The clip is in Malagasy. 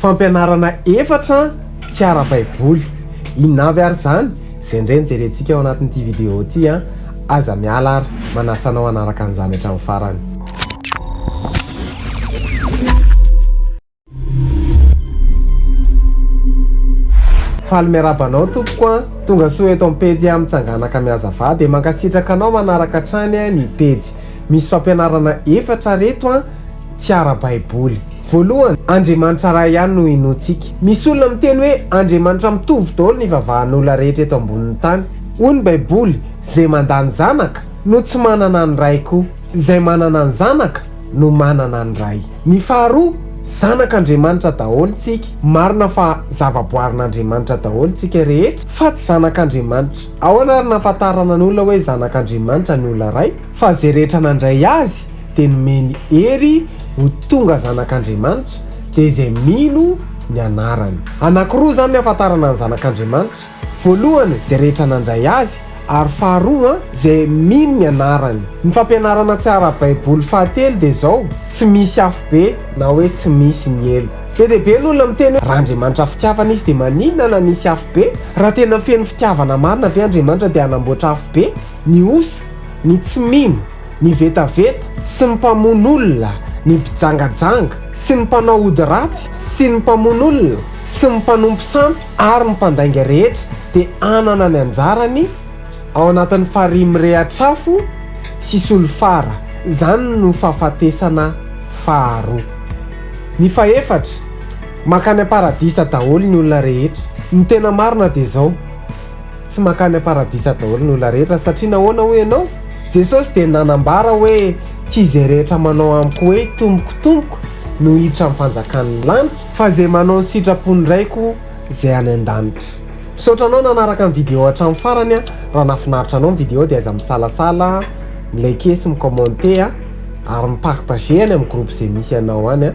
Fampianarana efatra tsy ara-baiboly. Inona avy ary izany? Izay indray no jerentsika ao anatin'ity video ity an! Aza miala ary manasa anao hanaraka an'izany hatramin'ny farany. Faly miarahaba anao tompoko an! Tonga soa eto amin'ny pejy aho mitsanganaka mihazavà dia mankasitraka anao manaraka hatrany ny pejy. Misy fampianarana efatra reto an! tsy ara-baiboly. Voalohany, Andriamanitra iray ihany no inoantsika. Misy olona miteny hoe andriamanitra mitovy daholo ny ivavahan'olona rehetra eto ambonin'ny tany. Hoy ny baiboly, izay mandà ny zanaka no tsy manana ny ray koa. Izay manana ny zanaka no manana ny ray. Ny faharoa, zanak'Andriamanitra daholo tsika. Marina fa zavaboarin'Andriamanitra daholo tsika rehetra, fa tsy zanak'Andriamanitra. Ahoana ary nahafantarana ny olona hoe zanak'Andriamanitra ny olona iray? Fa izay rehetra nandray Azy dia nomeny hery ho tonga zanak'Andriamanitra, dia izay mino ny anarany. Anankiroa izany ny ahafantarana ny zanak'Andriamanitra, voalohany, izay rehetra nandray Azy, ary faharoa, izay mino ny anarany. Ny fampianarana tsy ara-baiboly fahatelo dia izao, tsy misy afobe na hoe tsy misy ny helo. Be dia be ny olona miteny hoe, raha Andriamanitra fitiavana Izy dia maninona na nisy afobe? Raha tena feno fitiavana marina ve Andriamanitra dia hanamboatra afobe? Ny osa, ny tsy mino, ny vetaveta sy ny mpamono olona, ny mpijangajanga sy ny mpanao ody ratsy sy ny mpamono olona sy ny mpanompo sampy ary ny mpandainga rehetra dia hanana ny anjarany ao anatin'ny farihy mirehatr'afo sy solifara, izany no fahafatesana faharoa. Ny fahefatra, mankany am-paradisa daholo ny olona rehetra. Ny tena marina dia izao. Tsy mankany am-paradisa daholo ny olona rehetra satria nahoana hoy ianao? Jesosy dia nanambara hoe tsy izay rehetra manao amiko hoe tompoko tompoko no hiditra amin'ny fanjakan'ny lanitra, fa izay manao ny sitrapon'ny Raiko izay any an-danitra. Misaotra anao nanaraka ny vidéo hatramin'ny farany a! Raha nahafinaritra anao ny vidéo dia aza misalasala mi-liker sy mi-commenter a! Ary mi-partager any amin'ny groupe izay misy anao any a!